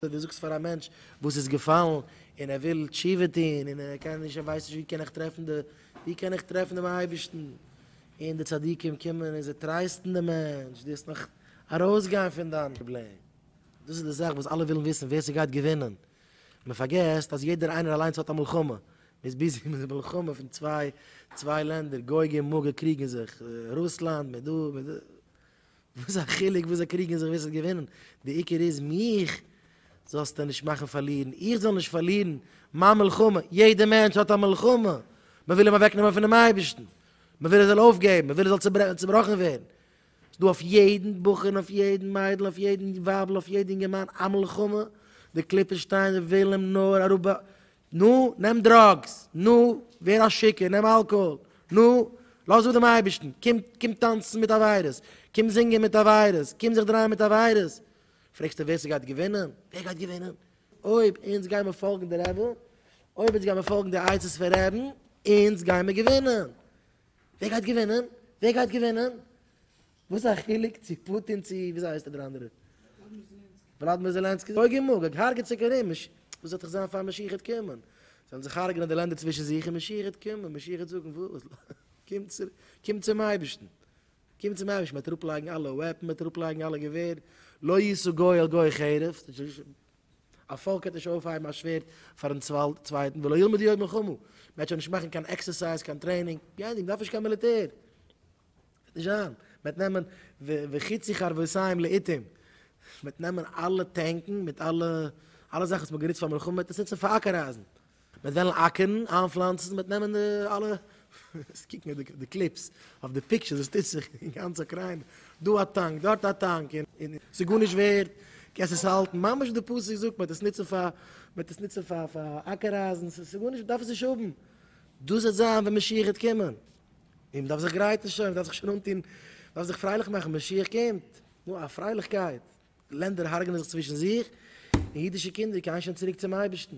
אויב דו זאגסט פאר א מענטש וואס איז געפאלן און ער וויל תשובה טון און ער קען נישט ער ווייסט נישט ווי קען איך טרעפן די ווי קען איך טרעפן דעם אייבערשטן און די צדיקים קומען און זיי טרייסטן דעם מענטש דו וועסט נאך ארויסגיין פון דיין פראבלעם. דאס איז די זאך וואס אלע ווילן וויסן ווער ס'גייט געווינען, מען פארגעסט אז יעדער איינער אליינס האט א מלחמה, מען איז ביזי מיט די מלחמה פון צוויי צוויי לענדער גוג און מגוג קריגן זיך, רוסלאנד מיט דא מיט דא. וואס א חילוק וואס זיי קריגן זיך ווער ס'וועט געווינען, די עיקר איז מיך זאלסטו נישט מאכן פארלירן, איך זאל נישט פארלירן מיין מלחמה, יעדער מענטש האט א מלחמה, מען וויל אים אוועקנעמען פונעם אייבערשטן, מען וויל ער זאל אויפגעבן, מען וויל ער זאל צעבראכן ווערן, ס'איז דא אויף יעדן בחור און אויף יעדן מיידל, אויף יעדן ווייבל, אויף יעדן אינגערמאן א מלחמה, די קליפות שטייען זיי ווילן אים נאר אראפ נו, נעם דראגס, נו, ווער א שיכור, נעם אלקאהאל, נו, לאז אפ דעם אייבערשטן, קום, קום טאנצן מיט עבירות, קום זינגען מיט עבירות, קום זיך דרייען מיט עבירות, פרעגסטו ווער ס'גייט געווינען? ווער גייט געווינען? אויב אונז גיימער פאלגן די רעבע, אויב אונז גיימער פאלגן די עצות פון רעבן, אונז גיימער געווינען! ווער גייט געווינען? ווער גייט געווינען? וואס א חילוק צו פוטין צו וויאזוי הייסט ער דער אנדערער? וולאדמיר זעלענסקי. זאג אים מאגאג הרג'עט זיך ארום, מש. וואס וועט זיך זיין פאר משיח וועט קומען? זאלן זיך הרג'נען די לענדער צווישן זיך און משיח וועט קומען, משיח וועט זאגן וואס? קום צו, קום צום אייבערשטן. קום צום אייבערשטן, מ'וועט אראפלייגן אלע וועפן, מ'וועט אראפלייגן אלע געווער, לא ישא גוי אל גוי חרב, א פאלק וועט נישט אויפהייבן א שווערד פארן צווייטן, ולא ילמדו עוד מלחמה, מ'וועט שוין נישט מאכן קיין עקסערסייז, קיין טרעינינג, גיין, מ'דארף נישט קיין מיליטער. וועט נישט זיין, מען וועט נעמען וחצי חרבותיים לאיתים, מען וועט נעמען אלע טענקן מיט אלע אלע זאכן וואס מען האט גענוצט פאר מלחמה מען וועט עס נוצן פאר אקערייזן, מען וועט וועלן אקערן, איינפלאנצן, מען וועט נעמען די אלע, קוק מיר די קליפס, אויף די פיקטשערס וואס טוט זיך אין גאנץ אוקריינע, דא א טאנק, דארט א טאנק, און עס איז גארנישט ווערד, קענסט עס האלטן, ממש ווי די פסוק זאגט, מען וועט עס נוצן פאר, מען וועט עס נוצן פאר אקערייזן, ס'איז גארנישט, מען דארף עס נישט האבן, דאס וועט זיין ווען משיח וועט קומען. און מ'דארף זיך גרייטן שוין, מ'דארף זיך שוין אנטון, מ'דארף זיך פרייליך מאכן, משיח קומט! נו, א פרייליכקייט! לענדער הרג'נען זיך צווישן זיך, און אידישע קינדער קייען שוין צוריק צום אייבערשטן.